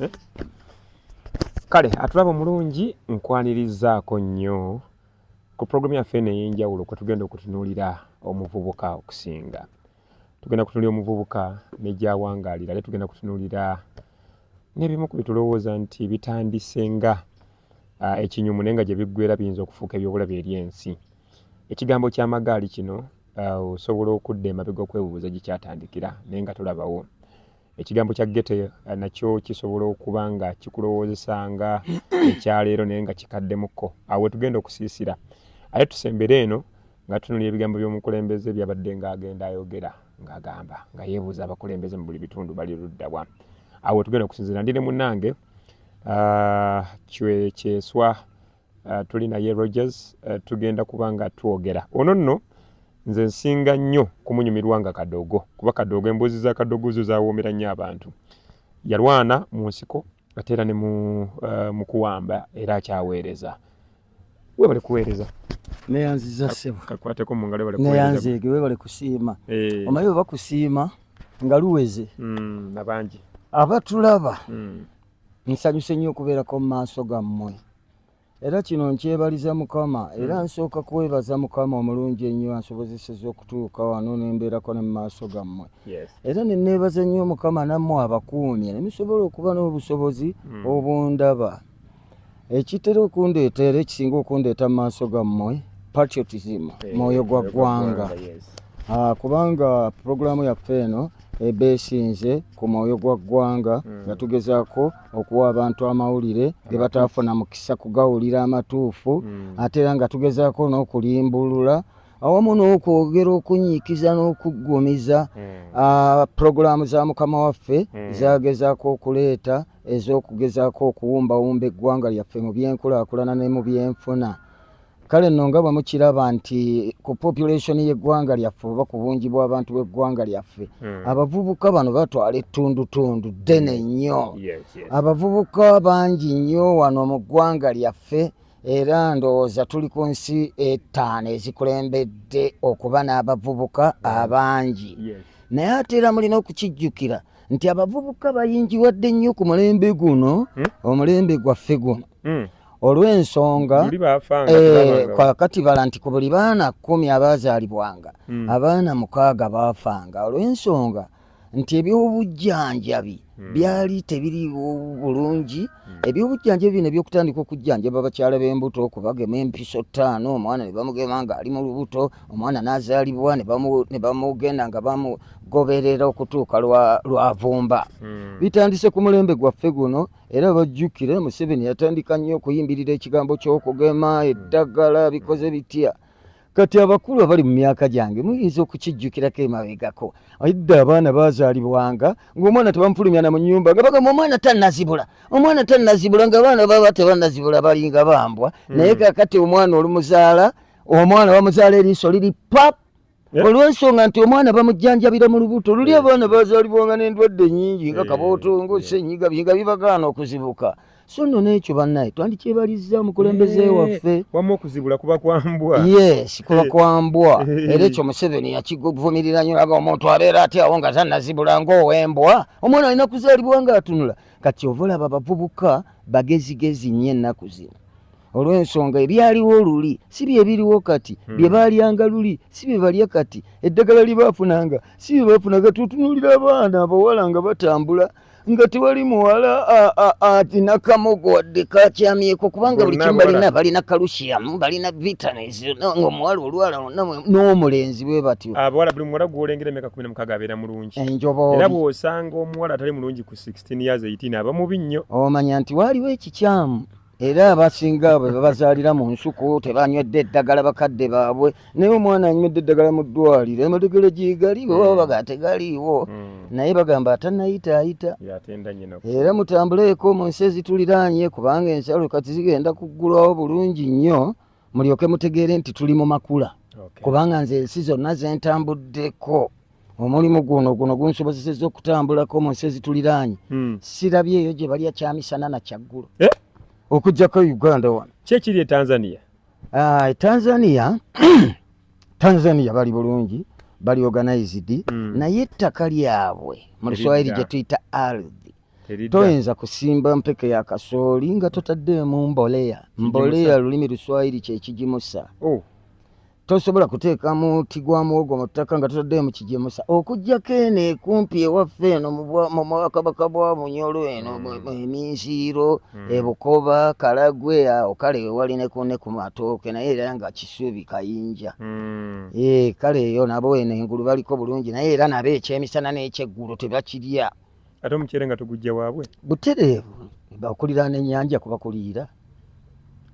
eh? kale atulaba omulungi nkwanirizaako nnyo ku pulogulaamu yaffe eno ey'enjawulo kwe tugenda okutunuulira omuvubuka okusinga tugenda kutunuulira omuvubuka ne gyawangaalira ale tugenda kutunuulira n'ebimu ku bitulowooza nti bitandise nga ah, ekinyumu naye nga gye biggwera biyinza okufuuka ebyobulabe eri ensi ekigambo ky'amagaali kino ah, osobola okudda emabega okwebuuza gye kyatandikira naye nga tolabawo Ekigambo kya ghetto eh, nakyo kisobola okuba nga kikulowoozesa nga ekyaleero naye nga kikaddemuko awo wetugenda okusiisira ate tusembere eno nga tunulira ebigambo by'omukulembeze byabadde nga agenda ayogera ng'agamba nga yeebuuza abakulembeze mu buli bitundu bali luddawa awo wetugenda okusinzira ndi ne munnange ah, kyeswa uh, tuli naye Rogers uh, tugenda kuba nga twogera ono nno nze nsinga nnyo kumunyumirwa nga kadogo kuba kadogo emboozi za kadogo zo zawoomera nnyo abantu yalwana mu nsiko ate era ne mu, uh, mu kuwamba era akyaweereza webale kuweereza neyanziza ssebo kakwateko mu ngalo neyanzeege webale kusiima eh. omanyi bwe bakusiima nga luweze mm, nabangi abatulaba mm. Nsanyuse nnyo okubeerako mu maaso gammwe era kino nkyebaliza Mukama era hmm. nsooka kwebaza Mukama omulungi ennyo ansobozeseza okutuuka wano ne mbeerako ne mu maaso gammwe era ne neebaza nnyo Mukama nammwe abakuumye ne musobola okuba n'obusobozi hmm. obundaba ekitera okundeeta era ekisinga okundeeta mu maaso gammwe patriotism eh, mwoyo gwa ggwanga ah, kubanga pulogulaamu yaffe eno ebeesinze ku mwoyo gwa ggwanga hmm. nga tugezaako okuwa abantu amawulire ge bataafuna mukisa kugawulira amatuufu hmm. ate era nga tugezaako n'okulimbulula awamu n'okwogera okunyiikiza n'okuggumiza hmm. pulogulaamu za mukama waffe zagezaako okuleeta ez'okugezaako okuwumbawumba eggwanga lyaffe mu byenkulaakulana ne mu byenfuna kale nno nga bwe mukiraba nti ku population y'eggwanga lyaffe oba ku bungi bw'abantu b'eggwanga lyaffe hmm. abavubuka bano batwala ettundutundu ddene hmm. nnyo abavubuka bangi nnyo wano mu ggwanga lyaffe era ndowooza tuli ku nsi ettaano ezikulembedde okuba n'abavubuka hmm. abangi naye ate era mulina okukijjukira nti abavubuka bayingiwadde nnyo ku mulembe guno omulembe gwaffe guno mm. olw'ensonga eh, kwakati bala nti ku buli baana kumi abaazaalibwanga mm. abaana mukaaga baafanga olw'ensonga nti ebyobujjanjabi hmm. byali tebiriwo bulungi hmm. ebyobujjanjabi bino ebyokutandika okujjanjaba abakyala b'embuto okubagema empiso ttaano omwana ne bamugema ng'ali mu lubuto omwana n'azaalibwa ne bamugenda nga bamugoberera okutuuka lwavumba hmm. bitandise ku mulembe gwaffe guno era bajjukire museveni yatandika nnyo okuyimbirira ekigambo ky'okugema eddagala bikoze bitya kati abakulu abali mu myaka gyange muyinza okukijjukirako emabegako edda abaana bazaalibwanga ngaomwana tebamufulumyana mu nyumba nga bagamba omwana tanazibula omwana tanazibula nga abaana baba tebanazibula balinga bambwa hmm. naye kakati omwana olumuzaala omwana bamuzaala eriiso liri pap Eh? olwensonga nti omwana bamujjanjabira mu lubuto luli eh. abaana bazalibwanga n'endwadde nyingi nga eh. kabootongo senyiga nga bibagaana okuzibuka so nno n'ekyo bannaye twandikyebalizza mukulembeze waffe wamu okuzibula kuba kwambwa yes kuba kwambwa era ekyo museveni yakivumirira nyo aga omuntu abeera aty awo nga tanazibula ngaowembwa omwana alina kuzalibwa nga atunula kati ovolaba bavubuka bagezigezi nyo ennaku zino olw'ensonga ebyaliwo luli si bye biriwo kati hmm. bye baalyanga luli si bye balya kati eddagala lye baafunanga si bye baafunaga tutunuulira abaana abawala nga batambula nga tewali muwala alina kamogo wadde kakyamyeko kubanga buli kimu balina balina kalusiyamu balina vitamins nga omuwala olwala n'omulenzi bwe batyo abawala buli muwala gwolengera emyaka kumi namukaga abeera mulungi era bw'osanga omuwala atali mulungi ku 16 years 18 aba mubi nnyo omanya nti waaliwo ekikyamu era abasinga bwe babazaalira mu nsuku tebanywedde eddagala bakadde baabwe naye omwana anywedde eddagala mu ddwaliro emalegere gyegali bwe baba baga tegaliiwo hmm. naye bagamba atanayita ayita era mutambuleeko mu nsi ezituliraanye kubanga ensalo kati zigenda kuggulwawo bulungi nnyo mulyoke mutegeere nti tuli mu makula kubanga nze ensi zonna zentambuddeko omulimu guno guno gunsobozeseza okutambulako mu nsi ezituliraanye hmm. sirabye eyo gye balya kyamisana na kyaggulo eh? okujjako e uganda wano kyekiri e tanzania ah, e tanzania tanzania bali bulungi bali organized hmm. naye ettaka lyabwe mu luswayiri gye tuyita ardhi toyinza kusimba mpeke ya kasooli nga totaddeemu mboleya mboleya lulimi luswayiri kyekigimusa oh. tosobola kuteeka muti gwa muwogo mu ttaka nga totaddeemu kigimusa okugyako eno ekumpi ewaffe eno mu bwakabaka bwa bunyolo eno hmm. eminziiro hmm. ebukoba kalagwe awo kale wewali ne ku matooke naye era nga kisuubi kayinja hmm. eh, kale eyo nabo eno engulu baliko bulungi naye era nabo ekyemisana n'ekyeggulo tebakirya ate omuceere nga tugujja waabwe butereevu bakuliraana ennyanja kubakuliira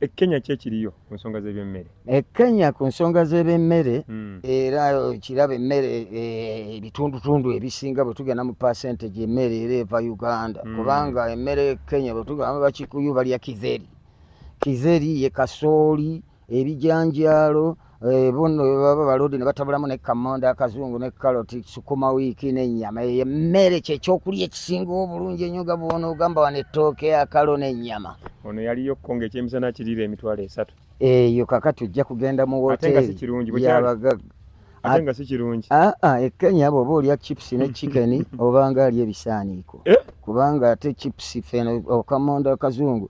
e kenya ki ekiriyo ku nsonga z'ebyemmere e kenya ku nsonga z'ebyemmere hmm. era kiraba emmere eh, ebitundutundu ebisinga bwe tugenda mu pasente gyemmere era eva uganda hmm. kubanga emmere e kenya bwe tugamba bakikuyu balya kizeri kizeri ye kasooli ebijanjaalo eh, buno baba balodi ne batabulamu ne kamonda akazungu ne kaloti sukuma wiiki n'ennyama eyo emmere kyekyokulya ekisinga obulungi ennyo nga bwona ogamba wano ettooke akalo n'ennyama ono yaliyo ko nga ekyemisana kiriira emitwalo esatu eyo kakati ojja kugenda mu woteeriyabagaga ate nga si kirungi aa ah, ah, e kenya bwoba olya chips ne chicken obanga ali ebisaaniiko eh? kubanga ate chips feno okamonda kazungu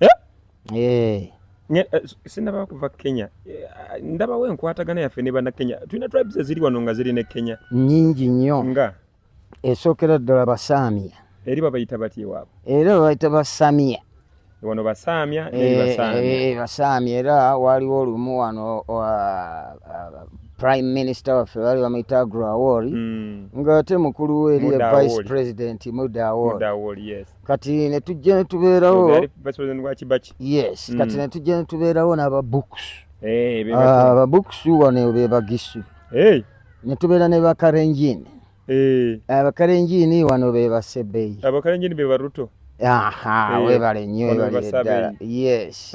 eh? Eh. Eh, sinaba kuva kenya ndabawo enkwatagana yaffe ne banakenya tulina tribes eziri wano nga ziri ne kenya nyingi nnyo nga esookera ddala basaamia eri babayita batya ewaabwe era babayita basamia wano basaamya basaamya era waaliwo olumu wano prime minister waffe bali bamuyita agro awori hmm. nga ate mukulu we eriye vice president muda awori kati ne tujja ne tubeerawo yes kati mm. ne tujja ne tubeerawo n'aba books eh, ah, aba books wano be bagisu eh. ne tubeera ne bakarenjini eh. abakarenjini wano be basebeyi abakarenjini be baruto aha webale nnyo webale ddala yes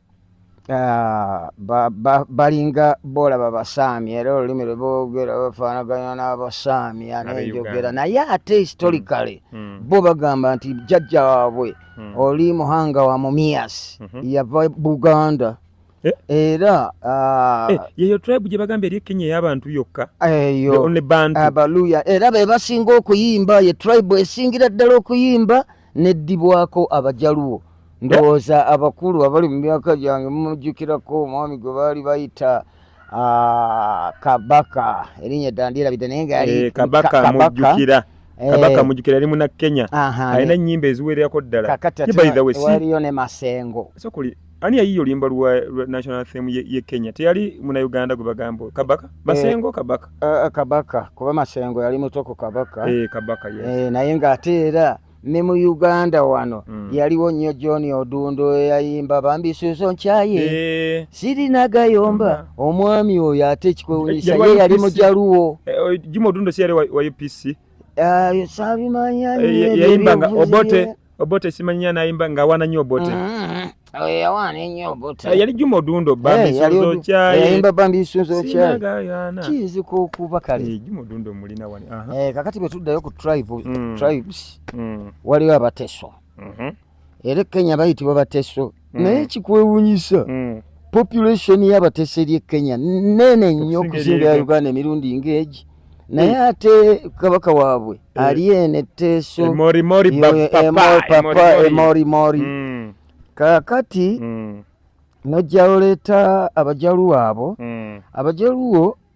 Ah, ba- ba- balinga boolaba basaami era olulimi lwe boogera bafaanaganya n'abasaami Abe anenjogera Uganda. naye ate historically Mm. bo bagamba nti jjajja waabwe Mm. oli muhanga wa mumiyas Mhm. yava buganda Eh? era ah, Eh, yeyo tribe gye bagamba eri e kenya ey'abantu yokka the eyo only bantu abaluya era be basinga okuyimba ye tribe esingira ddala okuyimba neddibwako abajaluwo ndowooza abakulu abali mu myaka gyange mumujjukirako omwami gwe baali bayita ah, kabaka erinnya dda ndyerabidde naye nga yali eh, kabaka mujjukira eh. kabaka mujjukira yali muna kenya alina ennyimba eziwererako ddala kakati waliyo ne masengo ani yayiyo oluyimba lwa national anthem ye kenya teyali muna uganda gwe bagamba kabaka eh, masengo kabaka eh, eh, kabaka kuba masengo yali muto ku kabaka kabaka naye ng'ate era ne mu uganda wano mm. yaliwo nnyo john odundo eyayimba bambi suzo nkyaye e... sirina gayomba mm. omwami oyo ate ekikwewunyisa ye yali mujaluwo juma odundo si yali wa upc ah, sabimanya yayimba nga obote Obote simanyi anayimba nga awana nyo Obote. Mm-hmm. Oh, yawana nyo Obote. Ah, yali Juma Odundo bambi eh, sunzo cha. Eh, yayimba bambi sunzo cha. Kizi ko kuba kale. Eh, Juma Odundo mulina wani. Aha. Eh, kakati betuddayo ku tribe mm. tribes. Mm. Waliwo abateso. Mhm. Mm Ere Kenya bayitibwa bateso. naye mm. kikwewunyisa mm. population yabatese lye kenya nene nnyo okusinga ya uganda emirundi ngeegi naye mm. ate kabaka waabwe ali eno etteeso emorimori kakati nojja oleeta abajaluwo abo abajaluwo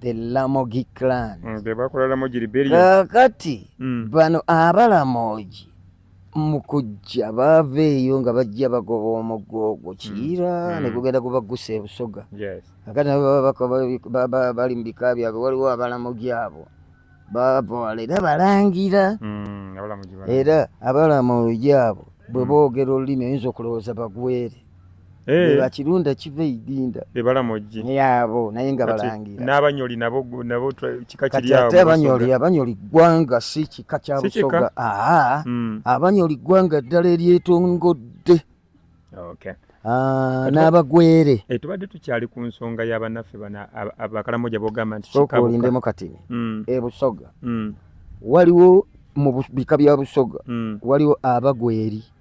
the Lamogi clan mm, bebakola Lamogi rebellion kakati mm. bano abalamogi mu kujja baava eyo nga bajja bagoba omuggo ogwo mm. kiira mm. ne gugenda gubagusa ebusoga kakati nabo baba bali mu bika byabwe waliwo abalamogi abo baavawala era balangira mm, era abalamogi abo bwe mm. boogera olulimi oyinza okulowooza bagwere Eh. bakirunda kiva eidinda ebalamojji eh, yabo naye nga balangira n'abanyoli nabo nabo kika kiri awo ate abanyoli abanyoli ggwanga si kika kya busoga aa hmm. abanyoli ggwanga ddala eryetongodde okay ah, n'abagwere eh, tubadde tukyali ku nsonga y'abanaffe bana abakalamoja bogamba nti kikabukaolindemu kati hmm. ebusoga hmm. waliwo mu bika bya busoga waliwo abagweri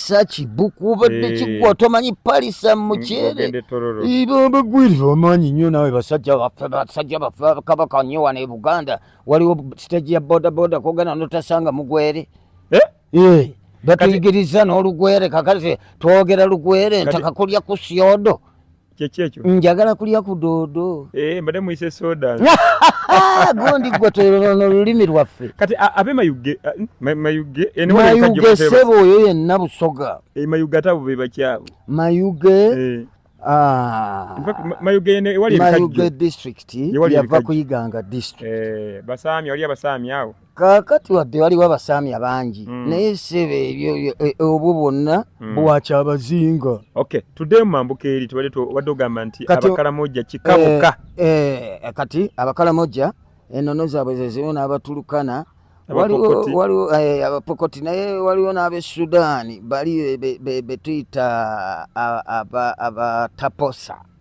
palisa kibuku obadde eh. kigwa tomanyi palisa mm, mukyere bagwirira omanyi nyo nawe basajja baffe basajja baffe kabaka nyo wano e buganda waliwo siteji ya bodaboda kogenda notasanga mugwere eh? Eh, batuyigiriza n'olugwere kakati twogera lugwere ntakakulya ku syodo kyeki ekyo njagala kulya ku doodo eh, mbadde muyise soda ah, gundi gwe tolona olulimi lwaffe kati abe mayuge mayuge mayuge sebo oyo yenna busoga eh, mayuge ate abo bebakyabo mayuge eh. ah. mayuge district yava kuyiganga district basaami wali abasaami awo kakati wadde waliwo abasaamya bangi mm. naye sebe ebyo e, e, obwo bwonna mm. bwakyabazinga okay tudde mumambuka eri tubadde tubadde ogamba nti abakalamojja kikabuka eh, eh, kati abakalamojja enono zaabwe zezimu n'abatulukana waliwo eh, abapokoti naye waliwo n'abe sudaani bali betuyita abataposa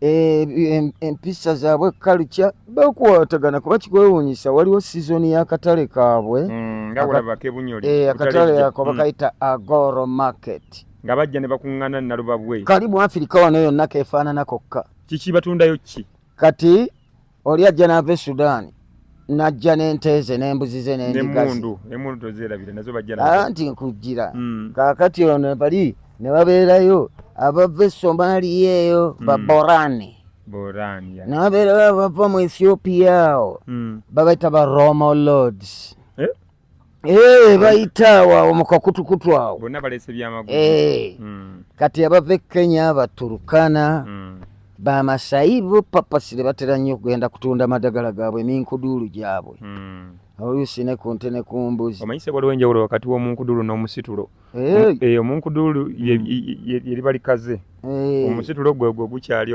Eh, empisa zaabwe kalukya bakwatagana kuba kikwewunyisa waliwo sizoni y'akatale kaabwe hmm, eh, akatale ako hmm. bakayita agoro market nga bajja ne bakuŋŋana nalubabwe kali mu afirika wano yonna kefaanana kokka kiki batundayo ki kati oli ajja n'ava e sudaani najja n'ente ze n'embuzi ze n'endigaanti nkujjira hmm. kaakati ono bali ne babeerayo abava e somaliya eyo hmm. baborani ne babeerayo abava mu ethiopia awo hmm. babaita ba romo lords Eh, bayita wawo mukakutukutu awo bonna balese byamagulu eh, hmm. kati abava e kenya abaturukana hmm. bamasayi bo papasire batera nnyo okugenda kutunda madagala gaabwe eminkuduulu gyabwe hmm. oluusi ne ku nte ne ku mbuzi omanyise waliwo enjawulo wakati w'omunkuduulu n'omusitulo eh, omunkuduulu yeriba likaze omusitulo gwegwo gukyali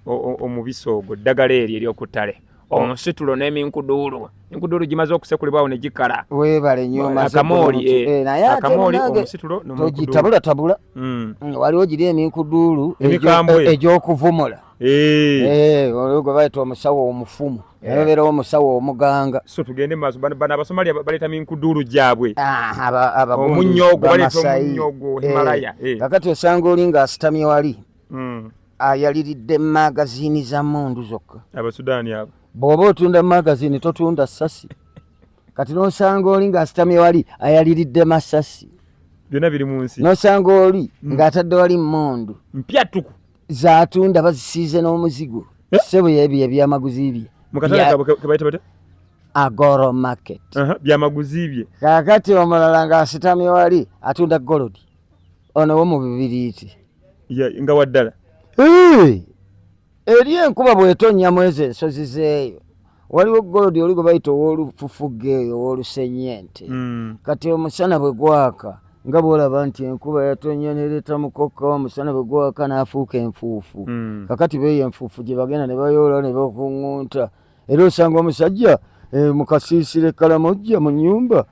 omubisi ogwo ddagala eryo eryokuttale omusitulo n'eminkuduulu enkuduulu gimaze okusekulibwawo ne gikala webale nyo akamooli eh, eh, akamooli omusitulo nogitabula tabula hmm. mm, waliwo giri eminkuduulu egyokuvumula eh. olwo gwe bayita omusawo omufumu nabeera omusawo omuganga so tugende maaso bano abasomali baleeta minkuduulu gyabwe omunyogo baleeta omunyogo himalaya kakati osanga oli nga asitamye wali hmm. ayaliridde magazini za mundu zokka abasudaani abo bw'oba otunda magazini totunda sasi kati nosanga oli ng'asitamye wali ayaliridde masasi byonna biri mu nsi nosanga oli hmm. ng'atadde wali mundu mpyattuku zatunda bazisiize n'omuzigo eh? sebo yebyo ebyamaguzi bye agoro market byamaguzi bye kakati omulala ng'asitamye wali atunda golodi ono wo mu bibiriiti nga waddala eri enkuba bwetonya mwezi ensozi zeeyo waliwo golodi oli gwe bayita ow'olufufuga eyo ow'olusenyente hmm. kati omusana bwe gwaka nga bwolaba nti enkuba yatonya nereeta mukokka omusana bwe gwaka n'afuuka enfuufu hmm. kakati beeyo enfuufu gye bagenda ne bayoola ne bakuŋŋunta era osanga omusajja eh, mukasiisire kalamojja mu nyumba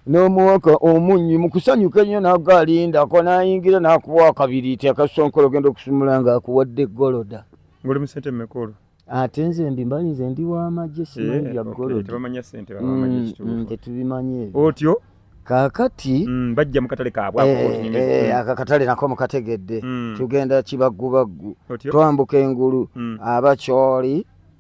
n'omuwaka omunyi mukusanyuka ennyo naga alinda ako nayingira nakuwa akabiri ti akasonkolo ogenda okusumula nga akuwadde goloda ngoli musente mumekolo ate nze ndi mbali nze ndi wamagye simanyi bya eh, golodatetubimanyi mm, ebyo otyo kakati mm, bajja mukatale kabweakakatale eh, eh, nako mukategedde mm. tugenda kibagubaggu twambuka engulu abakyoli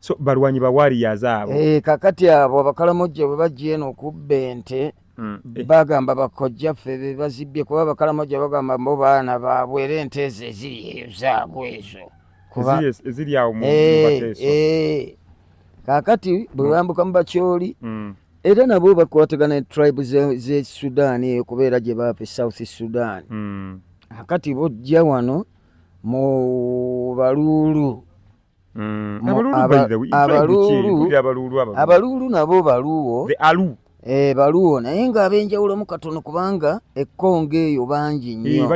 so balwanyi ba warriors abo eh kakati abo abakalamojja bwe bajja eno okubba ente mm, eh. bagamba bakojja ffe be bazibbye kuba abakalamojja bagamba mbo baana baabwe era ente ezo eziri eyo zaabo ezo eziri awo mu eh, bateeso eh. kakati bwe mm. bambuka mu bakyoli mm. era nabo bakwatagana ne tribe ze sudan eyo kubeera gye baapa e south sudan kakati bojja wano mu baluulu Mm, abaluulu nabo baluwo eh, baluwo naye nga abenjawulomu katono kubanga ekkonga eyo bangi nnyo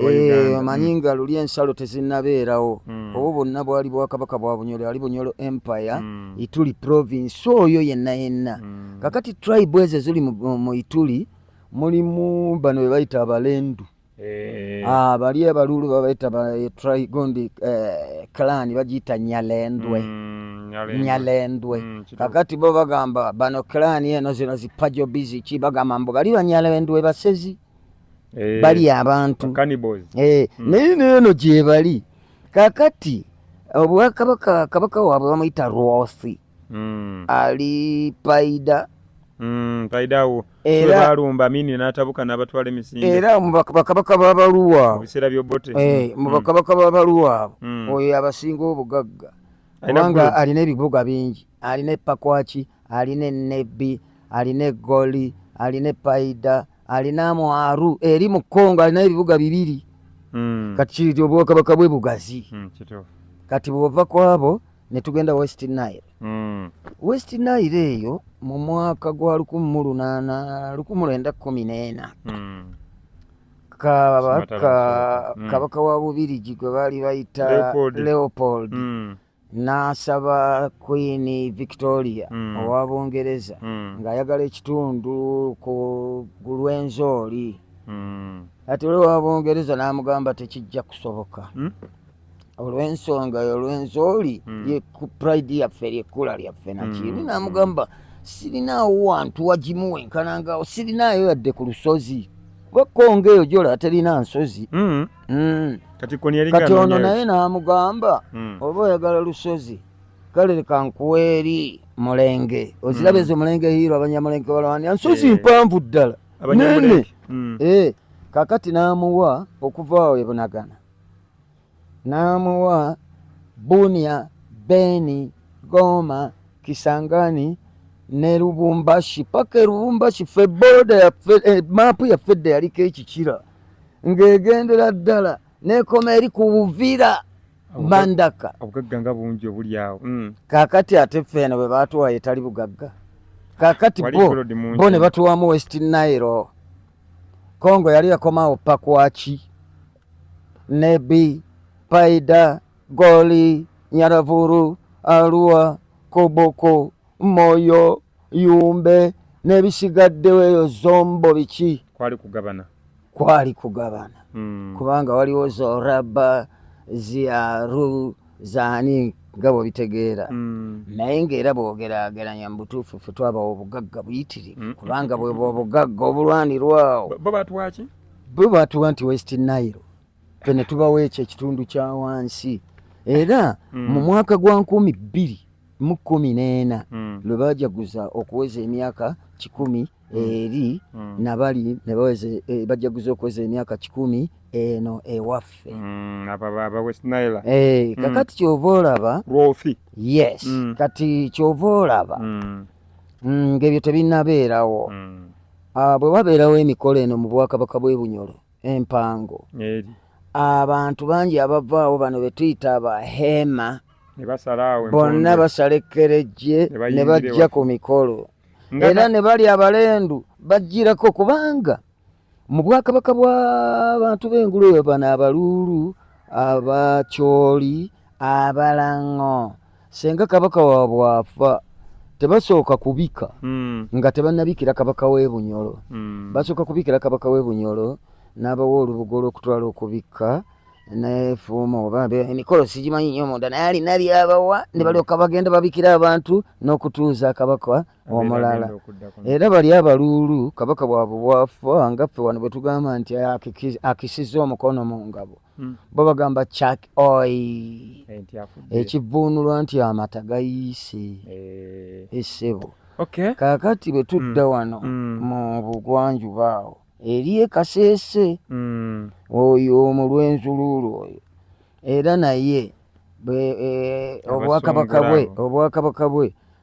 eh, omanyi mm. nga luli ensalo tezinabeerawo mm. obwo bonna bwali bwakabaka bwa bunyolo ali bunyolo empire ituli province oyo yenna yenna kakati tribe ezo ziri mu ituli mulimu bano bebayita abalendu mm. Eh. Ah, bali abalulu babaita ba eh, trigondi eh, clan bagiyita nyalendwe mm, nyalendwe mm, kakati bo bagamba bano clan eno zino zipajo bizi ki bagamba mbu bali banyalendwe basezi eh, bali abantu eh, mm. naye neeno gyebali kakati obwakabaka kabaka waabwe bamuyita rwothi mm. ali paida mm, paida wo era balumba mini natabuka nabatwala emisinde era mubakabaka babaluwa obisera byobote eh mm. mubakabaka mm. babaluwa mm. oyo abasinga obugagga kubanga alina ebibuga bingi alina epakwaki alina enebbi alina egoli alina epaida alina mwaru eri mu kongo alina ebibuga bibiri mm. kati kiri obwakabaka bwe bugazi mm, kati bwova kwabo ne tugenda west nile mm. west nile eyo mu mwaka gwa lukumi mu lunaana lukumi lwenda kumi n'ena mm. kabaka mm. kabaka wa bubirigi gwe baali bayita leopold, leopold. Mm. n'asaba queen victoria mm. owa bungereza mm. ng'ayagala ekitundu ku lw'enzooli mm. ati olwowa bungereza n'amugamba tekijja kusoboka mm? olw'ensonga yo olw'enzooli hmm. ye pride yaffe lyekkula lyaffe nakibi hmm. namugamba sirinaawo wantu wagimu wenkanangaawo sirinaayo yadde ku lusozi wekonga eyo gyola terina nsozi hmm. kati ono naye namugamba oba oyagala lusozi kale leka nkuweeri mulenge oziraba ezo mulenge hiiro abanyamulenge balawandira nsozi eh. mpanvu ddala nene eh, kakati namuwa okuva awo ebunagana n'amuwa Bunia, Beni, Goma, Kisangani ne Lubumbashi paka e Lubumbashi ffe boda yaffe eh, maapu yaffe edda yaliko ekikira ng'egendera ddala n'ekoma eri ku Buvira Mbandaka. Obugagga nga bungi obuli awo. Mm. Kaakati ate ffe eno bwe baatuwa etali bugagga. Kaakati bo bo ne batuwamu West Nile. Congo yali yakomawo pakwaki Nebi, Paida, Goli, Nyaravuru, Arua, Koboko, Moyo, Yumbe n'ebisigaddewo eyo zombo biki? Kwali kugabana. Kwali kugabana. Mm. Kubanga waliwo zoraba, ziaru, zaani nga bwebitegeera mm. naye ngaera bwogerageranya mubutuufu fe twabawa obugagga buyitirivu mm. kubanga bwebwa obugagga obulwanirwawo Bwe baatuwa nti West Nile fe ne tubawo ekyo ekitundu kya wansi era mm. mu mwaka gwa nkumi bbiri mu kkumi n'ena mm. lwe bajaguza okuweza emyaka kikumi mm. eri mm. nabali ne baweze eh, bajaguza okuweza emyaka kikumi eno ewaffe mm, eh, mm. kakati kyova olaba yes mm. kati kyova olaba mm. mm, ng'ebyo tebinabeerawo mm. Ah, bwe wabeerawo emikolo eno mu bwakabaka bw'e Bunyoro empango abantu bangi abavaawo bano be tuyita abaheema bonna basala ekkerejje ne bajja ku mikolo era ne bali abalendu bajjirako kubanga mu bwakabaka bw'abantu b'engulu eyo bano abaluulu abacooli abalango senga kabaka wa bwafa tebasooka kubika mm. nga tebanabikira kabaka w'ebunyolo mm. basooka kubikira kabaka w'ebunyolo n'abawa olubugo olw'okutwala okubikka nefuuma oba emikolo sigimanyi nyo munda naye alina byabawa ne balyoka bagenda babikira abantu n'okutuuza kabaka omulala era bali abaluulu kabaka bwabwe bwafa nga ffe wano bwe tugamba nti akisiza omukono mu ngabo hmm. bo bagamba chak oi ekivvuunulwa nti amata gayiise eh. essebo kakati bwe tudda hmm. wano hmm. mu bugwanjuba awo eri ekaseese oyo omulwenzuluulu oyo era naye eh, obwakabaka bwe obwakabaka bwe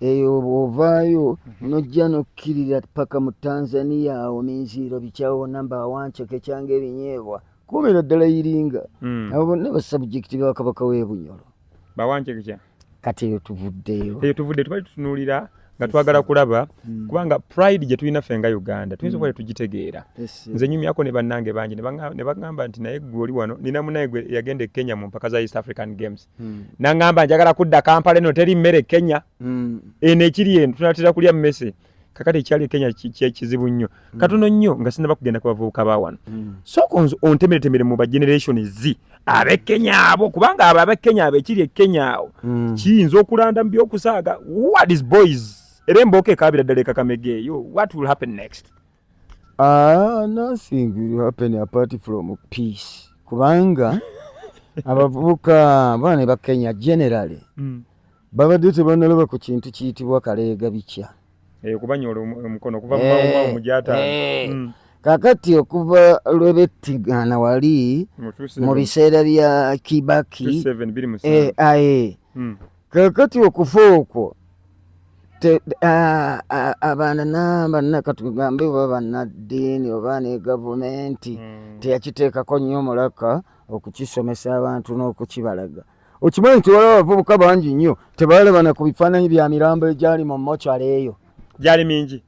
eyo bw'ovaayo mhm. nojja n'okkirira paka mu tanzania awo minziiro bikyawo namba awanceke kyanga ebinyeebwa kuumira ddala iringa hmm. abo bonna basabjekiti ba kabaka w'ebunyolo bawancekekya kati eyo tuvuddeyo eyo tuvudde tubali tutunuulira nga twagala kulaba hmm. kubanga pride gye tulina ffe nga uganda tuyinza okuba hmm. tetugitegeera nze nyumyako ne bannange bangi ne bagamba nti naye gwe oli wano nina munaye gwe yagenda e kenya mu mpaka za east african games mm. nangamba njagala kudda kampala eno teri mmere kenya mm. eno ekiri eno tunatera kulya mmese kakati ekyali kenya kyekizibu nnyo mm. katono nnyo nga sinaba kugenda ku bavubuka ba wano mm. soko nze ontemeretemere mu bageneration zi abe kenya abo kubanga abo abe kenya abo ekiri ekenya awo mm. kiyinza okulanda mu byokusaaga what is boys era embooka ekaabira ddala ekakamegeeyo what will happen next Ah, nothing will happen apart from peace kubanga abavubuka bana ne bakenya generally mm. babadde tebanaloba ku kintu kiyitibwa kaleega bikya eh, kubanyola omukono okuva mu mawuma eh, omujata eh. mm. kakati okuva lwebettigana wali mu biseera bya kibaki eh, aye hmm. kakati okufa okwo abaana nabanna katugambe oba bannaddiini oba ne gavumenti hmm. teyakiteekako nnyo mulaka okukisomesa abantu n'okukibalaga okimanyi nti waliwo abavubuka bangi nnyo tebalabana ku bifaananyi bya mirambo egyali mu mocara eyo gyali mingi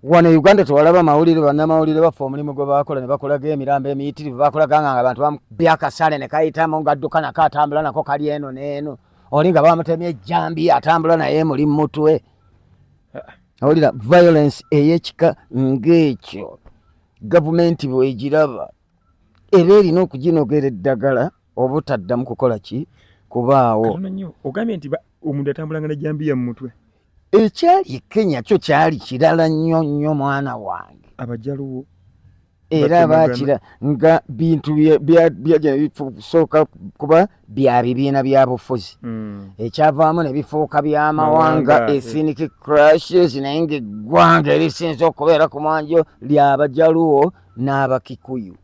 wano e uganda tewalaba mawulire banamawulire baffe omulimu gwe bakola ne bakolaga emirambo emiyitirivu bakolaga nga nga bantu babyakasale ne kayitamu ngadduka nako atambula nako kali eno neeno oli nga bamutemye ejjambi atambula naye muli mutwe awulira violence eyekika ng'ekyo gavumenti bwegiraba era erina okuginogera eddagala obutaddamu kukola ki kubaawo ogambye nti omuntu atambulanga ne jambiya mu mutwe ekyali e kenya kyo kyali kirala nnyo nnyo mwana wange abajaluwo era bakira nga bintu byajja bisooka kuba bya bibiina bya bufuzi hmm. ekyavaamu ne bifuuka by'amawanga ethnic crushes naye ngaeggwanga erisinza okubeera ku mwanjo lyabajaluwo n'abakikuyu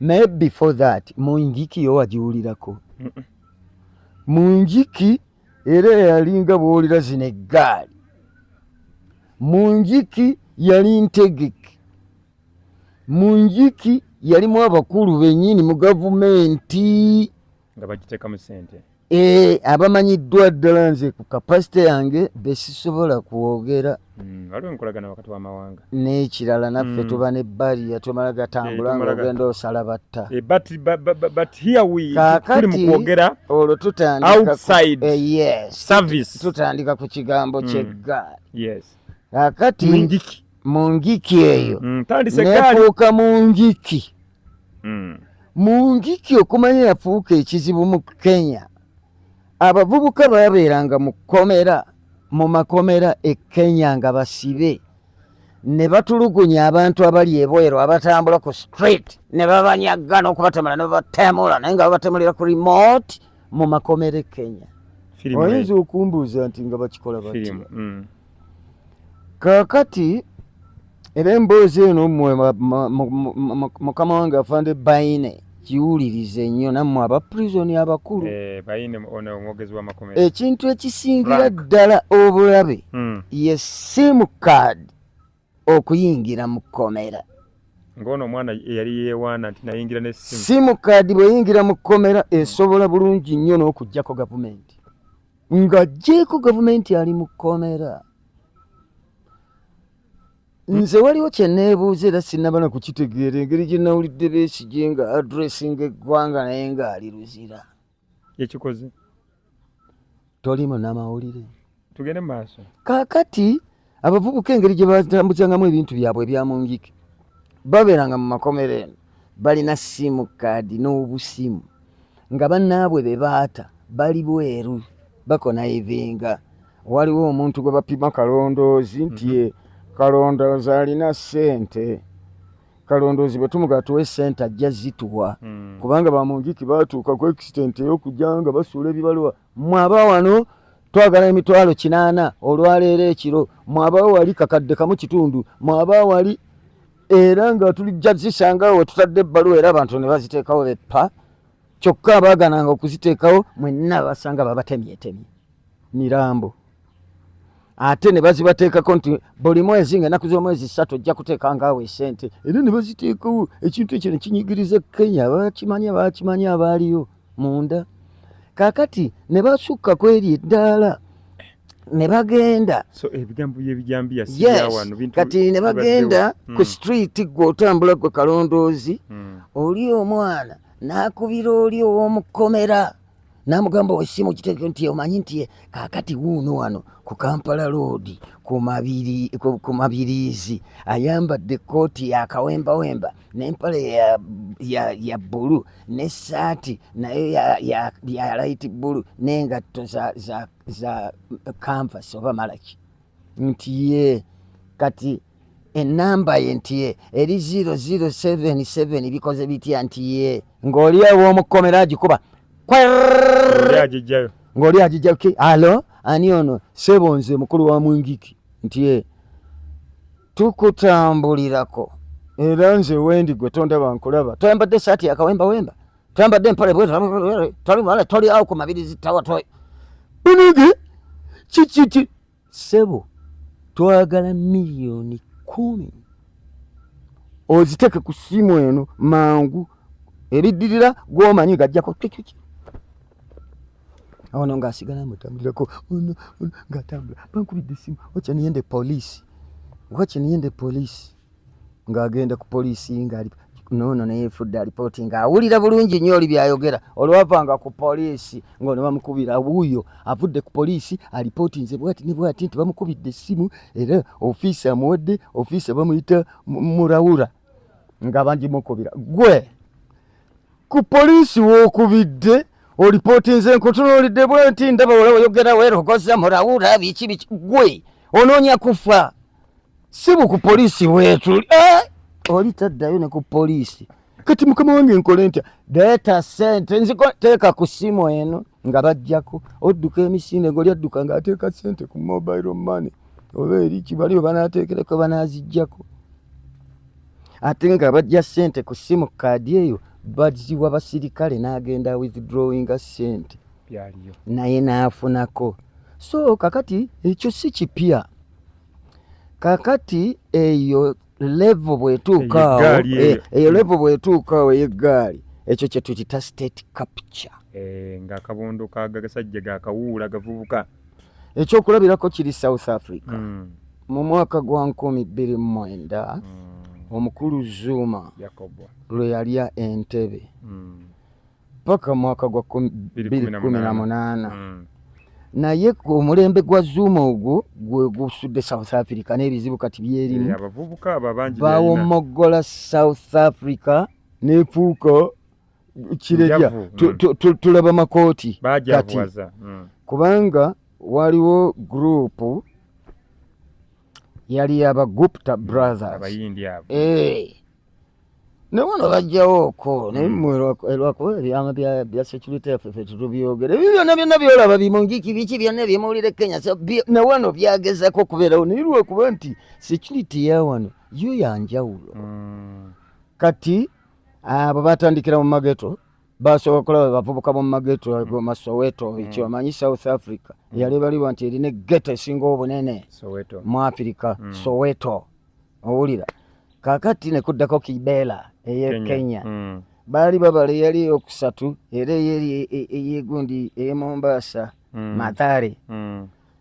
naye before that mungiki yo wagiwulirako mu njiki era yalinga bwolira zino eggaali mu njiki yali ntegeke mu njiki yalimu abakulu bennyini mu gavumenti nga bagitekamu sente eh, abamanyiddwa ddala nze ku kapasite yange besisobola kwogera Hmm, waliwo enkolagana wakati wamawanga nekirala naffe hmm. tuba ne bariya tumala gatambula eh, nga ogenda osala batta eh, kakati mukwogera olwo tutandika ku kigambo hmm. kyeggaali kakati mu ngiki eyo nefuuka mu ngiki mu ngiki okumanya yafuuka ekizibu mu kenya abavubuka babeeranga mu kkomera mu makomera e kenya nga basibe ne batulugunya abantu abali ebweru abatambula ku street ne babanyagga n'okubatemula ne babatemula naye nga babatemulira ku remote mu makomera e kenya oyinza okumbuuza nti nga bakikola bati mm. kakati era emboozi eno mwe mukama wange afande baine kiwulirize nnyo nammwe aba prisoni abakulu eh, ekintu ekisingira ddala obulabe hmm. ye simu kaadi okuyingira mu kkomera ng'ono omwana eyali yeewaana nti nayingira ne simu simu kaadi bweyingira mu kkomera esobola bulungi nnyo n'okugyako gavumenti ng'aggyeeko gavumenti ali mu kkomera nze waliwo kyeneebuuza era sinabana kukitegeera engeri gye nawulidde besigye nga adressinga eggwanga naye ng'ali luzira ekikoze toli munamawulire tugende maaso kakati abavubuka engeri gye batambuzangamu ebintu byabwe ebyamungike babeeranga mu makomero eno balina simu kaadi n'obusimu nga bannaabwe be baata bali bweru bakona evenga waliwo omuntu gwe bapima kalondoozi nti mm -hmm. kalondoozi alina ssente kalondoozi bwe tumugaa tuwe sente ajja zituwa hmm. kubanga bamunjiki batuuka ku extent ey'okujja nga basuula ebibaluwa mwaba wano twagala emitwalo kinaana olwaleero ekiro mwaba wali kakadde kamu kitundu mwaba wali era nga tulijja zisangawo wetutadde ebbaluwa era abantu ne baziteekawo beppa kyokka abaagananga okuziteekawo mwenna basanga babatemyetemye mirambo ate ne bazibateekako nti buli mwezi nga enaku z'omwezi ssatu ojja kuteekanga awo esente era ne baziteekawo ekintu ekyo ne kinyigiriza kenya abakimanyi abakimanyi abaaliyo munda kaakati ne basukka ku eryo eddaala ne bagenda kati ne bagenda hmm. ku sitiriiti gwe otambula gwe kalondoozi hmm. oli omwana n'akubira oli ow'omukomera n'amugamba osiima okiteeke nti omanyi nti kaakati wuuno wano ku kampala loodi ku mabiriizi ayambadde ekkooti yakawembawemba n'empale ya bbulu n'essaati nayo ya layiti bbulu n'engatto za kanvasi oba malaki nti ye kati enamba ye nti ye eri 0077 bikoze bitya nti ye ng'oli ew'omukomera agikuba ng'oli agijjayo ki alo ani ono sebo nze mukulu wa mwingiki nti ye tukutambulirako era nze wendi gwe tondaba nkulaba toyambadde esaati yakawemba wemba toyambadde empale bwetoli awo ku mabiri zitawa toy binigi kikiki sebo twagala miliyoni kumi oziteke ku simu eno mangu ebiddirira gwomanyi gajjako kikiki awono nga asigala mutambulirako ono ono ngaatambula bankubidde esimu wacha niyende polisi wacha niyende polisi ng'agenda ku poliisi ngali noono neyefudde alipooti nga awulira bulungi nnyo oli byayogera olwavanga ku poliisi ngaono bamukubira wuuyo avudde ku poliisi alipooti nze bwati ne bwati nti bamukubidde essimu era ofiisi amuwadde ofiisi bamuyita murawura nga bangimukubira gwe ku poliisi w'okubidde olipootinze nkutunuulidde bwe nti ndaba wala oyogera weerogoza murawuula biki biki gwe onoonya kufa si bu ku poliisi weetuli eh! oli taddayo ne ku poliisi kati mukama wange nkole ntya deeta sente nziteeka ku ssimu eno nga bajjako odduka emisinde ngoli adduka ng'ateeka sente ku mobile money oba eri kibali we banaateekereko banaazijjako ate nga bajja sente ku simu kaadi eyo baziwa basirikale n'agenda withdrawinga sente naye n'afunako so kakati ekyo si kipya kakati eyo levo bwetuukaawo eh, eyo levo bwetuukaawo eyeggaali ekyo kyetuyita state capture eh, nga akabondo kagasajja gakawuula gavubuka ekyokulabirako kiri south africa mm. mu mwaka gwa nkumi bbiri mumwenda mm. omukulu zuuma lwe yalya entebe mm. paka mwaka gwa bbiri kumi na munaana mm. naye omulembe gwa zuuma ogwo gwe gusudde south africa n'ebizibu kati byerimu eh, bawomoggola south africa nefuuka kirerya mm. tulaba makooti kati mm. kubanga waliwo gurupu yali yaba gupta mm, brothers eh. newano bajjawo oko naye lwakuba eh, ebyama bya security yaffe fe tutubyogera ebyo byona byona byolaba bimungiki biki byona ebyemawulire kenya newano byagezako okubeerawo naye lwakuba nti security yawano yo yanjawulo kati Ah, bwe batandikira mu mageto basobola okulaba bavubuka bomu mageto ago mm. masoweto mm. ekyo amanyi south africa mm. yali balibwa nti erina egeto esinga obunene mu afirika soweto owulira kakati nekuddako kibela eye kenya baali babala eyali eyokusatu era eyeri e, e, eyegundi eye mombasa matare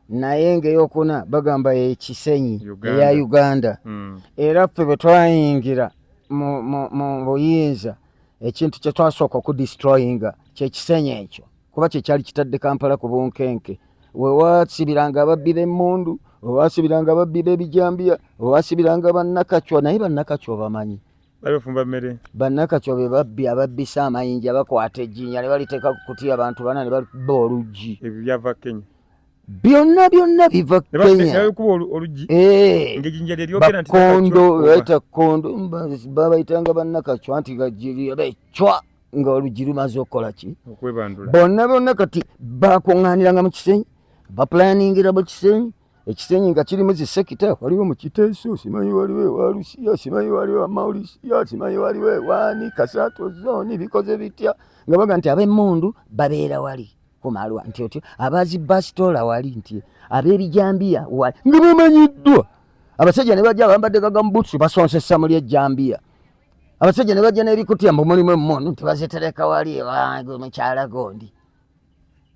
naye ng'eyokuna bagamba ekisenyi eya uganda hmm. era ffe bwe twayingira mu buyinza ekintu kye twasooka okudistroyinga kyekisenyi ekyo kuba kyekyali kitadde kampala ku bunkenke wewasibiranga ababbi b'emmundu wewasibiranga ababbi b'ebijambiya wewasibiranga bannakacwa naye bannakacwa bamanyi babefumba mmere bannakacwa be babbi ababbisa amayinja bakwata ejjinya ne baliteeka ku kutiya abantu bana ne babba oluggi ebyo byava kenya byonna byonna biva kenyabakondo eh. baita kondo babaitanga bannakacwa nti becwa nga oluggi lumaze okukola ki bonna bonna kati bakuŋŋaaniranga mu kisenyi bapulaningira mu kisenyi ekisenyi nga kirimu zisekita waliwo mukiteeso simanyi waliwo ewalusiya simanyi waliwo amaulisiya simanyi waliwo ewaani kasaato zooni bikoze bitya nga baga nti ab'emmundu babeera wali kumalwa nti otyo abazi basitoola wali nti ab'ebijambiya wali nga bamanyiddwa abasajja ne bajja bambadde gagamubuutusi basonsesa muli ejjambiya abasajja ne bajja n'ebikutya mbu mulimu emmundu nti bazitereka wali ewa mukyala gondi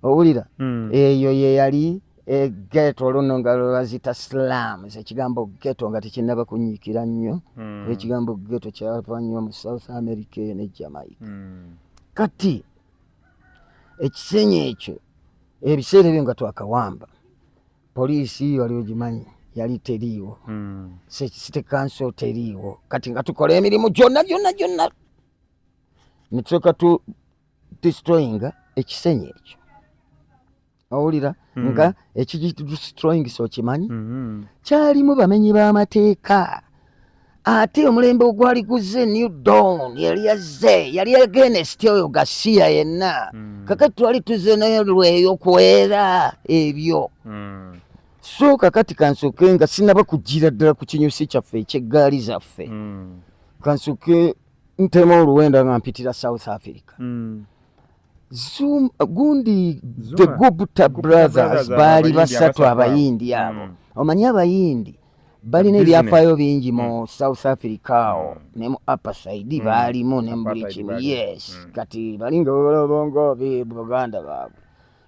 owulira hmm. eyo yeyali egeto oluno nga lwebazita slam ekigambo geto nga tekinaba kunyiikira nnyo hmm. ekigambo geto kyava nnyo mu south america eyo ne jamaica hmm. kati ekisenyi ekyo ebiseera ebyo nga twakawamba poliisi wali ogimanyi yali teriiwo site kanso teriiwo kati nga tukola emirimu gyonna gyonna gyonna netusoka destroyinga ekisenyi ekyo owulira mm. nga ekidestroyingisa okimanyi mm -hmm. kyalimu bamenyi b'amateeka ate omulembe ogwali guzze new dawn yali yazze yali agenest oyo gasiya yenna mm. kakati twali tuzze nayo lweyo kwera ebyo mm. so kakati kansoke nga sinaba kugira ddala ku kinyusi kyaffe ekyeggaali zaffe mm. kansoke ntema oluwenda nga mpitira south africa mm. Zoom, gundi Zuma. the gupta brothers baali basatu abayindi abo mm. omanyi abayindi balina ebyafaayo bingi mu mm. south africa awo mm. ne mu apasaidi mm. baalimu ne mubuli kimu yes mm. kati balinga obulobongo buganda baabwe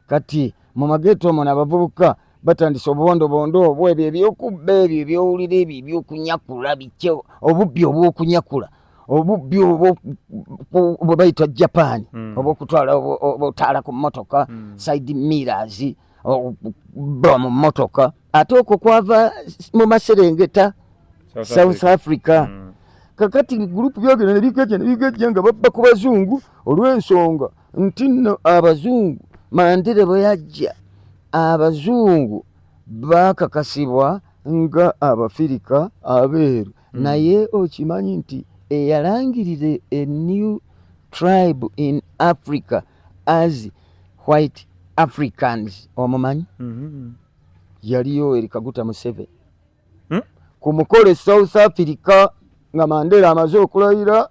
Kati mu mageeto omwo abavubuka batandise obubondobondo obwo ebyo ebyokubba ebyo ebyowulira ebyo ebyokunyakula bikye obubbi obwokunyakula obubbi bwe bayita japan hmm. obwokutwala otaala ku motoka hmm. side mirrors okubba mu motoka ate okwo kwava mu maserengeta south africa hmm. kakati gulupu byogera nebigejja nebigejja nga babba ku bazungu olwensonga nti nno abazungu mandere bwe yajja abazungu baakakasibwa nga abafirika abeeru mm. naye okimanyi nti eyalangirira a new tribe in africa as white africans omumanyi mm -hmm. yaliyo erikaguta museveni hmm? ku mukolo e south africa nga mandela amaze okulayira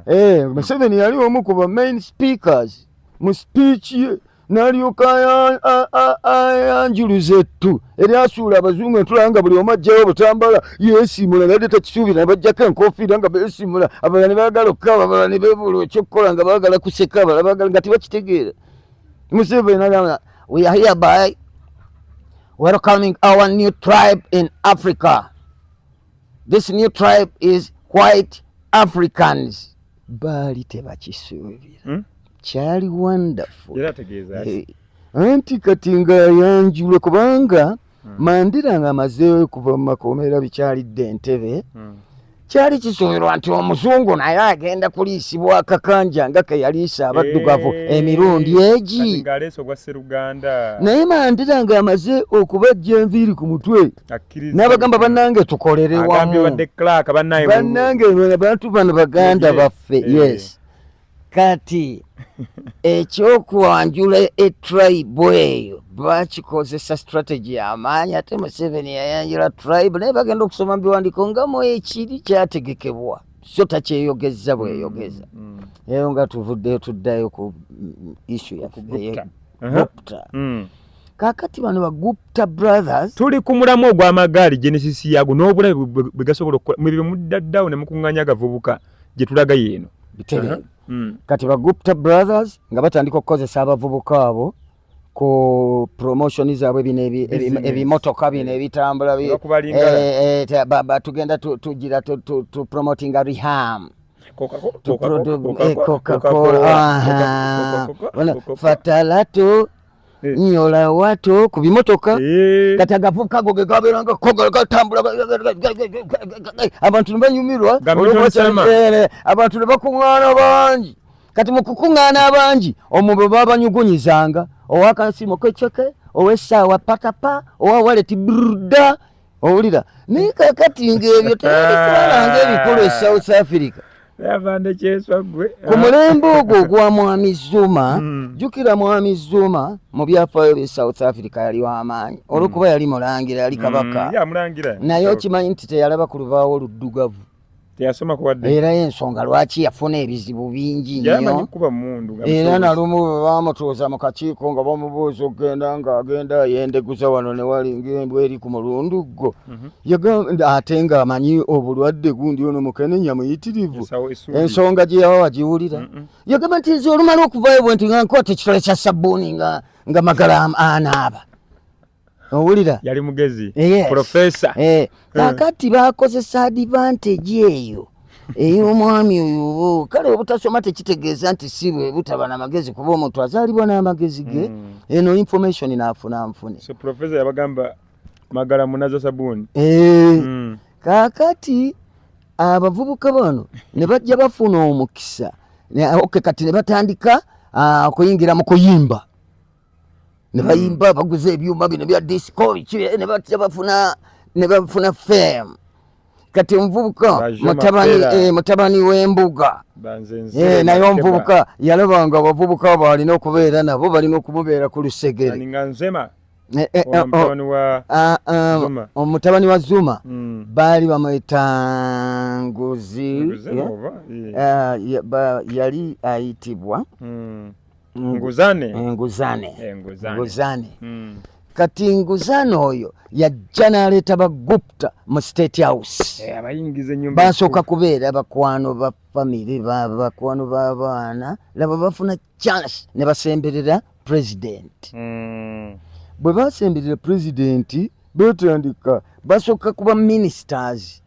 eh, museveni yali omu ku ba main speakers mu speech ye nalyoka ayanjuluza ettu eryasuula abazungu entulaba nga buli omu ajjayo obutambala yesimula nade takisuubira nebajjako enkofiira nga besimula abalala ne bagala okukaaba abalala ne bebula ekyokukola nga bagala kuseka abalala bagala nga tebakitegeera museveni nagamba we are hereby Welcoming our new tribe in Africa. This new tribe is white Africans. Baali tebakisuubira. Hmm? Kyali wonderful. Era tegeeza. Eh, anti kati nga yanjula kubanga hmm. Mandira nga amaze okuva mu makomera bikyalidde Entebbe. Hmm. kyali kisuubirwa nti omuzungu naye agenda kuliisibwa akakanja nga keyaliisa abaddugavu eh, emirundi egi naye mandira nga amaze okubajja enviiri ku mutwe n'abagamba bannange tukolere wamu bannange abantu bano baganda baffe eh. yes kati ekyokwanjula etribe eyo bakikozesa strategy yamaanyi ate museveni yayanjula tribe naye bagenda okusoma mubiwandiko nga mwekiri kyategekebwa so takyeyogeza bweyogeza mm, mm. eyo nga tuvuddeyo tuddayo ku isu yafugupta kakati bano bagupta brothers tuli ku mulamu ogw'amagaali genesis yaago n'obulabe bwe gasobola okukola mwebyo mudda dawuni mukuŋŋanya agavubuka gye tulaga yeeno bitereevu uh-huh. hmm. kati ba gupta brothers nga batandika okukozesa abavubuka abo ku promotion zaabwe bino ebimotoka bino eh. ebitambula eh, eh, tugenda tugira tupromotinga reham coca-cola fatalatu Eh. nyola watu ku bimotoka eh. kati agavubuka ago ge gabeeranga kogala gatambula abantu ne banyumirwa eh, abantu ne bakuŋŋaana bangi kati mu kukuŋŋaana abangi omwo bwe babanyugunyizanga owakasimu keceke ow'essaawa patapa owa waleti brda owulira naye kakati ngaebyo tebikolanga ebikulu e south africa ku mulembe ogwo ogwa mwami zuma hmm. jukira mwami zuma mu byafaayo bye south africa yali wamaanyi hmm. olwokuba yali mulangira yali kabaka hmm, naye okimanyi nti teyalaba ku lubaawo oluddugavu teyasoma kubadde era ensonga lwaki yafuna ebizibu bingi nnyo era nalumu baamutuuza mu kakiiko nga bamubuuza okugenda nga agenda yendeguza wano ne wali ng'embwa eri ku mulundu gwo mhm. yagamba ate ng'amanyi obulwadde gundi ono mukenenya muyitirivu ensonga gye yawa wagiwulira yagamba nti nze olumala okuvayo bwe nti nga nkwata ekitole kya sabbuuni nga magala anaaba owulira yali mugezi eh, yes. profesa eh. eh. kakati bakozesa advantage eyo ey'omwami oyo kale obutasoma tekitegeeza nti si bwe butaba na magezi kuba omuntu azaalibwa n'amagezi ge mm. eno information naafuna nfune so profesa yabagamba magala munaza sabuuni eh. mm. kakati abavubuka bano ne bajja bafuna omukisa oke kati ne batandika ah, okuyingira mu kuyimba ne hmm. bayimba baguza ebyuma bino bya disco ne batya bafuna ne bafuna fame kati omuvubuka mutabani eh, mutabani w'embuga eh, naye omuvubuka yalaba nga abavubuka abo alina okubeera nabo balina okumubeera ku lusegere Eh, eh, oh, oh. Ah, ah, omutabani wa zuma hmm. baali bamweta nguzi eh? ah, yali ayitibwa hmm. nguzane enguzane enguzane hmm. kati nguzane oyo yajja n'aleeta bagupta mu state house eh, basooka kubeera bakwano ba famiry bakwano b'abaana laba bafuna chance ne basemberera president hmm. bwe basemberera president betandika basooka kuba ministers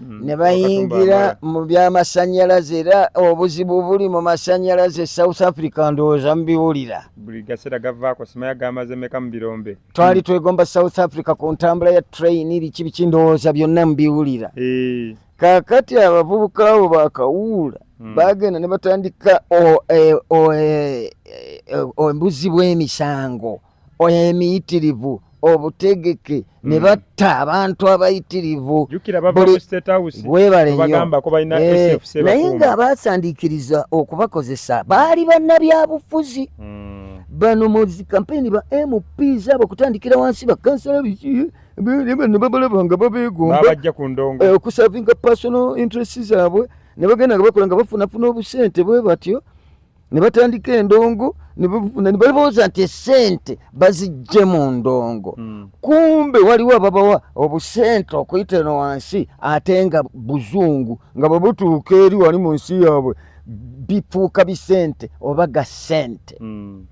mm, ne bayingira mu by'amasannyalaze era obuzibu buli mu masannyalaze south africa ndowooza mubiwulira buli gaseera gavaako simaya gamaze meka mu birombe twali twegomba south africa ku ntambula ya train biki biki ndowooza byonna mubiwulira eh. kakati abavubuka abo bakawuula hmm. bagenda ne batandika embuzi e, e, bw'emisango oyo emiyitirivu obutegeke hmm. ne batta abantu abayitirivu eh, naye nga abasandiikiriza okubakozesa baali bannabyabufuzi hmm. bano mu zikampeyini ba mp zaabo okutandikira wansi bakansala biki bano babalaba nga babeegombaokusavinga eh, personal interest zaabwe ne bagenda nga bakola nga bafunafuna obusente bwe batyo ne batandika endongo ne balowooza nti esente bazijje mu ndongo hmm. kumbe waliwo ababawa obusente okuyita eno wansi ate nga buzungu nga bwe butuuka eri wali mu nsi yaabwe bifuuka bisente oba ga sente hmm.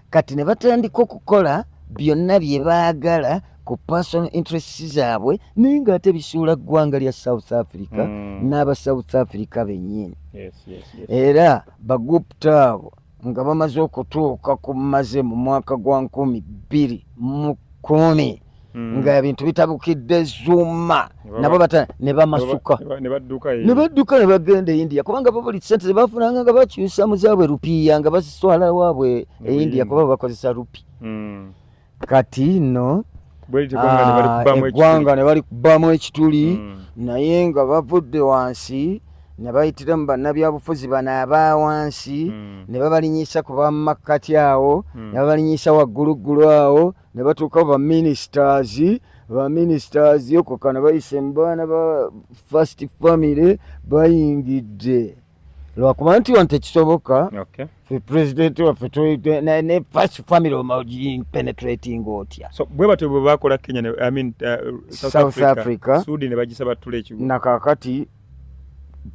kati ne batandika okukola byonna bye baagala ku personal interests zaabwe naye ng'ate bisuula ggwanga lya south africa mm. n'aba south africa bennyini yes, yes, yes. era bagupta abo nga bamaze okutuuka ku maze mu mwaka gwa nkumi bbiri mu kumi mm. nga ebintu bitabukidde zuma nabo bata ne bamasuka ne badduka ne badduka ne bagenda e India kubanga bo buli sente bafunanga nga bakyusa mu zaabwe rupiya nga baziswala waabwe e India kuba bakozesa rupi mm. kati no eggwanga ne balikubamu ah, ekituli mm. naye nga bavudde wansi ne bayitiramu bannabyabufuzi bano aba wansi mm. ne babalinyisa ku bamakkati awo mm. ne babalinyisa wagguluggulu awo ne batuuka ba ministers ba ministers okukana bayise mu baana ba first family bayingidde lwakuba nti wano tekisoboka fe president waffe ne first family omapenetrating otya bwe batyo bwe bakola kenya south africa nakakati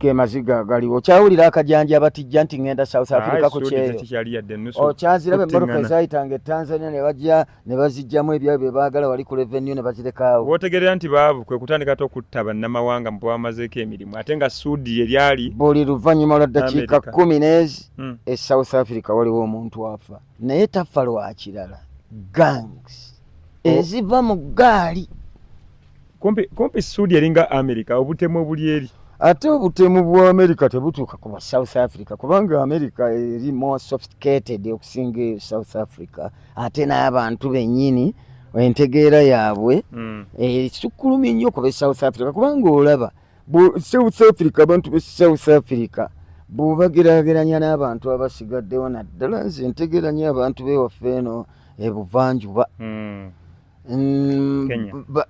ge maziga gali okyawulira akajanja abatijja nti ngenda south africa ku kyeyookyanzirabe emmotoka ezayitanga etanzania ne bajja ne bazijjamu ebyabyo bye baagala wali ku revenue ne bazirekaawo wootegerera nti baavu kwe kutandika ate okutta bannamawanga mu bwamazeeko emirimu ate nga suudi ye lyali buli luvannyuma lwa ddakiika kkumi n'ezi hmm. e south africa waliwo omuntu afa naye tafa lwakirala gangs oh. eziva mu gaali kumpi sudi eringa america obutemu obuli eri ate obutemu bwa america tebutuuka ku south africa kubanga america eri more sophisticated okusinga e south africa ate n'abantu bennyini entegeera yaabwe mm. esukkulumi nnyo kuba e south africa kubanga olaba mm. South Africa abantu be South Africa bw'obagerageranya n'abantu abasigaddewo naddala nze ntegeranya abantu bewaffe eno ebuvanjuba hmm. mm,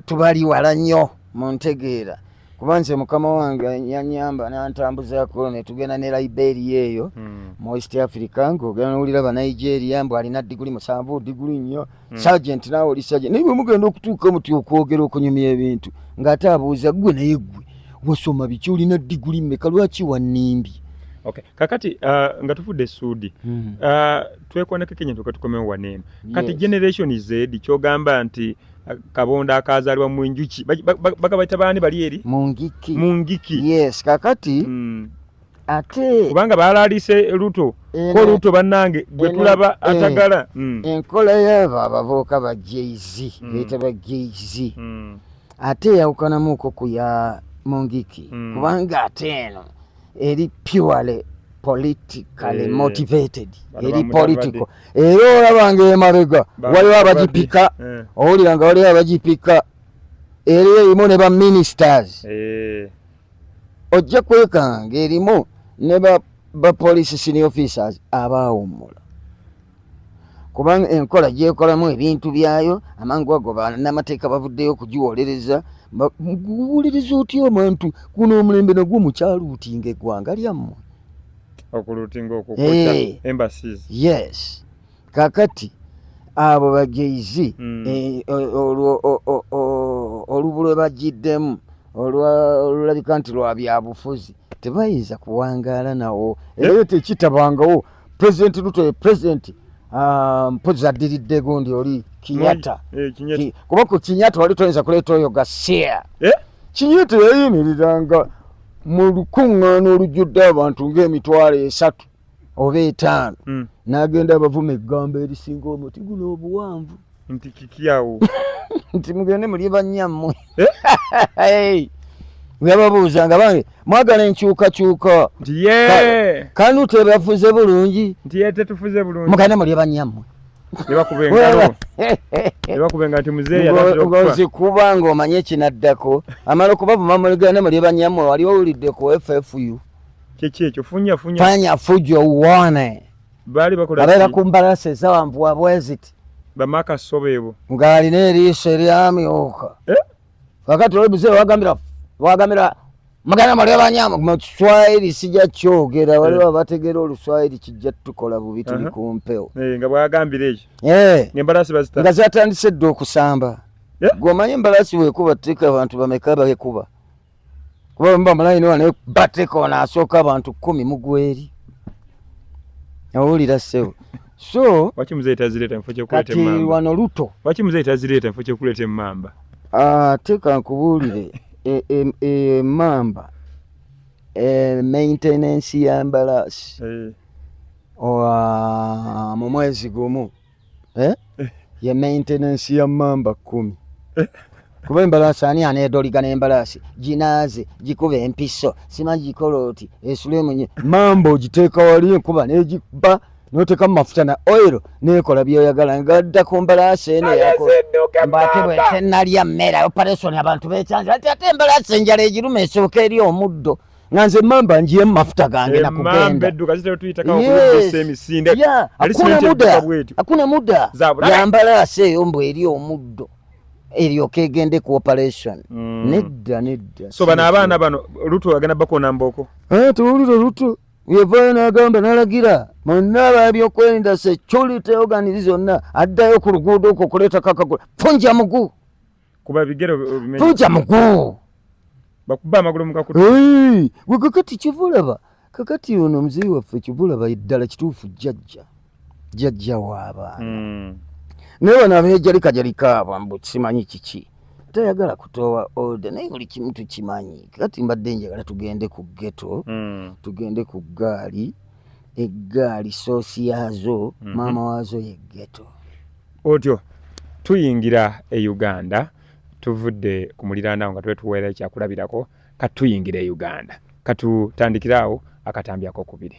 tubali wala nnyo mu ntegeera kuba nze mukama wange yanyamba nantambuzako netugenda ne liberia eyo hmm. mu east africa ngaogenda nowulira banigeria mbu alina diguli musanvu diguli nnyo hmm. sergeant nawe oli sergeant naye bwemugenda okutuuka omuti okwogera okunyumya ebintu ng'ate abuuza ggwe naye ggwe wasoma biki olina diguli mmeka lwaki wannimbye Okay. Kakati uh, nga tufudde suudi mm. uh, twekonekeko enyintu katukomewo waneeno kati yes. generation zedi kyogamba nti uh, kabondo akazalibwa mu njuki bagabaita baani bali eri mu ngiki mu ngiki yes kakati mm. ate kubanga baalaalise luto ko luto bannange gwe tulaba eh, atagala hmm. enkola yaabo abavubuka ba jz hmm. beeta ba jz hmm. ate eyawukanamuuko ku ya mungiki kubanga ate eno eri purely politically eh. motivated eri political era olabanga emabega waliwo abagipika eh. owulira nga waliwo abagipika era erimu ne ba ministers ojja kwekanga ng'erimu ne bapoliisi senior officers abaawummula kubanga enkola gyekolamu ebintu byayo amangu ago banamateeka bavuddeyo okugiwolereza guwuliriza otya abantu kuno omulembe nagwo mukyaluutinga eggwanga lyammwe okuluutinga okukuta embassies yes kakati abo bajaizi mm. eh, olubu lwe bagiddemu olulabika nti lwa byabufuzi tebayinza kuwangaala nawo era yo tekitabangawo pulezidenti luto ye pulezidenti ah, mpozi addiridde gundi oli kinyata eh, kuba ku kinyata wali toyinza kuleeta oyo gasiya eh? kinyata yayimirira nga mu lukuŋŋaana olujjudde abantu ng'emitwalo esatu oba etaano mm. nagenda abavuma eggambo erisinga omuti guno obuwanvu nti kikyawo nti mugende mulye bannyammwe eh? webabuuza nga bange mwagala enkyukakyuka nti ye kanu tebafuze bulungi nti ye tetufuze bulungi mugende mulye bannyammwe ozikuba ngaomanye ekinaddako amala okubavuma muligende mulye bannyammwe wali owulidde ku ffu Kiki ekyo funya funya. Fanya fujo uone. Bali bakola. Abera kumbala seza wambu wa bweziti. Bamaka sobebo. Ngali ne riso eriami oka. Eh? Wakati wewe mzee wagamira wagamira mugana mali abanyama mu Kiswahili sija kyogera wali eh. bategera oluswahili kijja tukola bubi tuli ku mpewo. Eh nga bwagambira ekyo. Eh. Ngembala sibazita. Nga zatandise ddo okusamba. Eh? Gwe omanyi embalasi wekuba ttika abantu bameka bekuba. kuba bwemuba mulayini wano bateka wano asooka abantu kumi mugweri owulira sebo so waki muzeyi tazireta mufo kyekuleta kati wano luto waki muzeyi tazireta mufo kyekuleta emamba ah, teka nkubuulire emamba e, e, e, maintenance ya mbalaasi eh. mu mwezi gumu eh? eh. ye maintenance ya mamba kumi eh. kuba embalaasi ani anedoliga nembalaasi ginaaze gikuba empiso sima gikolooti esulemunye mamba ogiteeka wali enkuba negiba noteka mumafuta na oil nekola byoyagala ngadda ku mbalaasi eno mbate bwetenalya mmere operation abantu bekyanzi ati ate embalaasi enjala egiruma esooka eri omuddo nga nze mamba njiye mu mafuta gange na kugenda akuna muda yambala ase eyo mbu eri omuddo eryoka egende ku operation mm. nedda nedda so bano abaana bano lutu agenda bakona mboko eh, tuwulire lutu yevayo nagamba nalagira monna babyokwerinda security organizi zonna addayo ku luguudo okwo okuleetako akagula funja mugu kuba bigere obimenye tuja muguu bakuba amagulu mukakuta hey, gwe kakati kivulaba kakati ono mzee waffe kivulaba eddala kituufu jajja jajja waabaana mm. naye bano abejalikajalika abo mbu simanyi kiki tayagala kutowa order naye buli kimu tukimanyi kati mbadde njagala tugende ku geto mm. tugende ku gaali eggaali soosi yaazo mm -hmm. maama waazo ye geto Otyo tuyingira e Uganda, tuvudde ku muliraano awo nga twetuweera ekyakulabirako, kati tuyingira e Uganda. Katutandikire awo akatambi akokubiri.